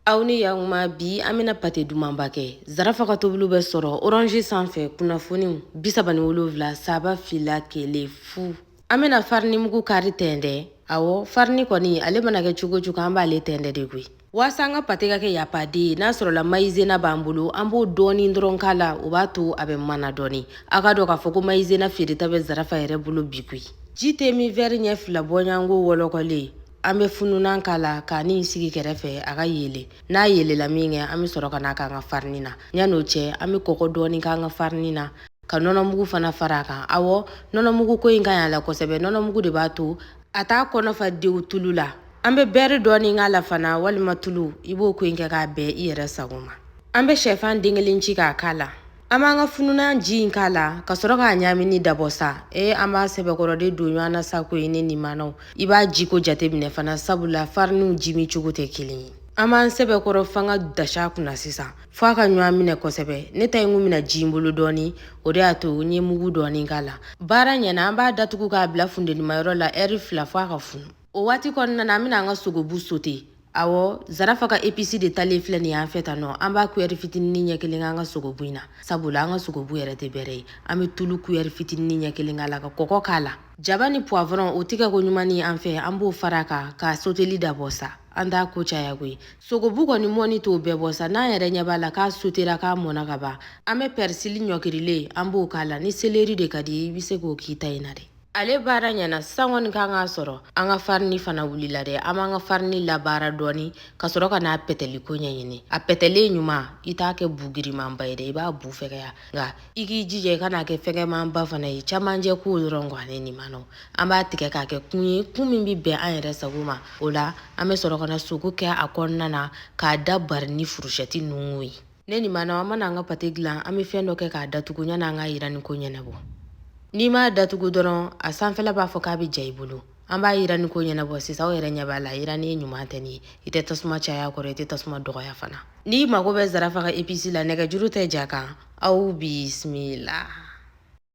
aw ni yakuma bi an bɛna pate dumanba kɛ zarafa ka tobili bɛ sɔrɔ orange sanfɛ kunnafoniw bi saba ni wolonwula saba fila kelen fu an bɛna farinimugu kari tɛntɛn awɔ farini kɔni ale mana kɛ cogo cogo an b'ale tɛntɛn de koyi waasa an ka pate ka kɛ yapaden ye n'a sɔrɔla mayizena b'an bolo an b'o dɔɔni dɔrɔn k'a la o b'a to a bɛ mana dɔɔni a k'a dɔn k'a fɔ ko mayizena feereta bɛ zarafa yɛrɛ bolo bi koyi ji te min wɛri ɲɛ fila bɔɲɔgɔnko wɔlɔkɔlen an bɛ fununan k'a la ka nin sigi kɛrɛfɛ a ka yele n'a yelela min kɛ an bɛ sɔrɔ ka n'a k'an ka farini na yann'o cɛ an bɛ kɔkɔ dɔɔni k'an ka farini na ka nɔnɔmugu fana fara a kan awɔ nɔnɔmugu kɔni ka ɲi a la kosɛbɛ nɔnɔmugu de b'a to a t'a kɔnɔ fa dewu tulu la an bɛ bɛɛri dɔɔni k'a la fana walima tulu i b'o kɔni kɛ k'a bɛn i yɛrɛ sago ma an bɛ shɛfan den kelen ci k'a k'a la An b'an ka fununan ji in k'a la ka sɔrɔ k'a ɲamini dabɔ sa ee an b'a sɛbɛkɔrɔ de don ɲɔgɔn na sa koyi ne nimanaw i b'a jiko jateminɛ fana sabula fariniw jimi cogo tɛ kelen ye an b'an sɛbɛkɔrɔ fanga da s'a kunna sisan fo a ka ɲɔgɔn minɛ kosɛbɛ ne ta in kun bɛna ji n bolo dɔɔni o de y'a to n ye mugu dɔɔni k'a la baara ɲɛna an b'a datugu k'a bila funtenimayɔrɔ la ɛri fila fo a ka funu o waati kɔnɔna na an bɛna an ka sogobu sote Awɔ zarafa ka episi de talen filɛ nin ye an fɛ tan nɔ an b'a kuɛri fitinin ɲɛ kelen k'an ka sogobu in na sabula an ka sogobu yɛrɛ tɛ bɛrɛ ye an bɛ tulu kuɛri fitinin ɲɛ kelen k'a la ka kɔkɔ k'a la jaba ni puwavɔrɔn o tigɛ ko ɲuman ni an fɛ an b'o fara kan ka soteli dabɔ sa an t'a ko caya koyi sogobu kɔni mɔni t'o bɛɛ bɔ sa n'an yɛrɛ ɲɛ b'a la k'a sotera k'a mɔna ka ban an bɛ pɛrisili ɲɔkirilen an b'o k'a la ni seleri de ka di i bɛ se k'o k'i ta in na dɛ ale baara ɲɛna sisan kɔni kan k'a sɔrɔ an ka farini fana wulila dɛ an b'an ka farini labaara dɔɔni ka sɔrɔ ka n'a pɛtɛli ko ɲɛɲini a pɛtɛlen ɲuman i t'a kɛ bu girimanba ye dɛ i b'a bu fɛgɛya nka i k'i jija i kan'a kɛ fɛgɛmanba fana ye camancɛ ko dɔrɔn kɔ ale nin ma nɔ an b'a tigɛ k'a kɛ kun ye kun min bɛ bɛn an yɛrɛ sago ma o la an bɛ sɔrɔ ka na sogo kɛ a kɔnɔna na k'a da bari ni furusɛti nun ye ne nimanaw an mana an ka pate dilan an bɛ fɛn dɔ kɛ k'a datugu yanni an k'a yiranni ko ɲɛnabɔ n'i m'a datugu dɔrɔn a sanfɛla b'a fɔ k'a bɛ ja i bolo an b'a yiranni ko ɲɛnabɔ sisan aw yɛrɛ ɲɛ b'a la yiranni ɲuman tɛ nin ye i tɛ tasuma caya a kɔrɔ i tɛ tasuma dɔgɔya fana n'i mago bɛ zarafa ka episi la nɛgɛjuru tɛ ja kan aw bisimila